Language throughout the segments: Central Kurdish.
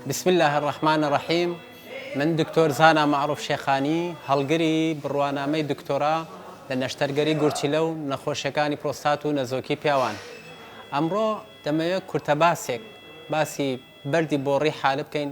بسم اللە الرحمن الرحیم من دکتۆر زانا مەعروف شێخانی هەڵگری بڕوانامەی دکتۆرا لە نەشتەرگەری گورچیلە و نەخۆشیەکانی پرۆستات و نەزۆکی پیاوان ئەمڕۆ دەمەوێت کورتە باسێک باسی بەردی بۆڕی حالە بکەین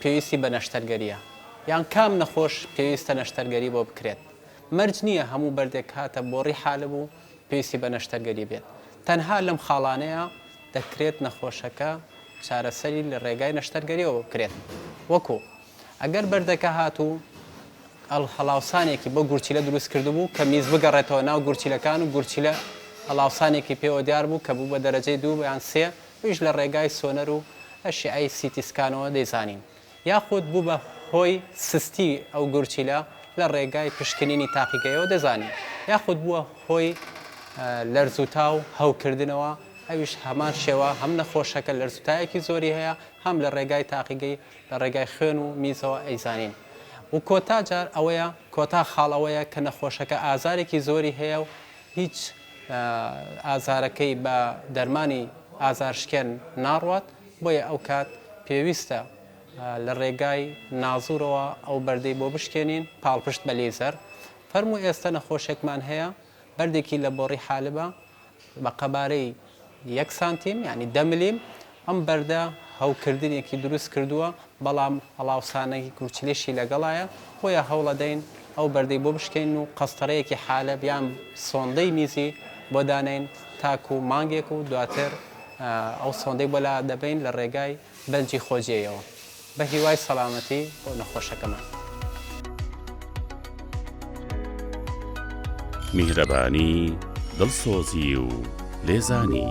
پێویستی بە نەشتەرگەرییە یان کام نەخۆش پێویستە نەشتەرگەری بۆ بکرێت، مەرج نییە هەموو بەردێک کاتە بۆڕی حالب و پێویستی بە نەشتەرگەری بێت، تەنها لەم خاڵانەیە دەکرێت نەخۆشەکە چارەسەری لە ڕێگای نەشتەرگەرییەوە بکرێت وەکو، ئەگەر بەردەکە هات و هەڵاوسانێکی بۆ گورچیلە دروست کردبوو کە میز بگەڕێتەوە ناو گورچیلەکان و گورچیلە هەڵاوسانێکی پێوە دیار بوو کە بوو بە دەرەجەی دوو یان سێ ئەویش لە ڕێگای سۆنەر و ئەشیعەی سیتی سکانەوە دەیزانین یاخود بوو بە هۆی سستی ئەو گورچیلە لە ڕێگای پشکنینی تاقیگەیەوە دەزانین یاخود بووە هۆی لەرزوتا و هەوکردنەوە ئەویش هەمان شێوە هەم نەخۆشەکە لەرزوتایەکی زۆری هەیە هەم لە ڕێگای تاقیگەی لە ڕێگای خوێن و میزەوە ئەیزانین و کۆتا جار ئەوەیە کۆتا خاڵ ئەوەیە کە نەخۆشەکە ئازارێکی زۆری هەیە و هیچ ئازارەکەی بە دەرمانی ئازارشکێن ناڕوات، بۆیە ئەو کات پێویستە لە ڕێگای نازوورەوە ئەو بەردەی بۆ بشکێنین، پاڵپشت بە لەیزەر. فەرموو ئێستە نەخۆشێکمان هەیە بەردێکی لە بۆڕی حالبە بە قەبارەی. یەک سانتیم یانی دە ملیم ئەم بەردە هەوکردنێکی دروست کردووە بەڵام هەڵاوسانەکی کوچلێشی لەگەڵایە بۆیە هەوڵەدەین ئەو بەردەی بۆ بشکێن و قەستەرەیەکی حالە بیان سۆندەی میزی بۆ دانێن تاکو مانگێک و دواتر ئەو سۆندەی بۆ لا دەبەین لە ڕێگای بەنجی خۆجێیەوە بە هیوای سەڵامەتی بۆ نەخۆشەکەمان. میهرەبانی، دڵسۆزی و لێزانی.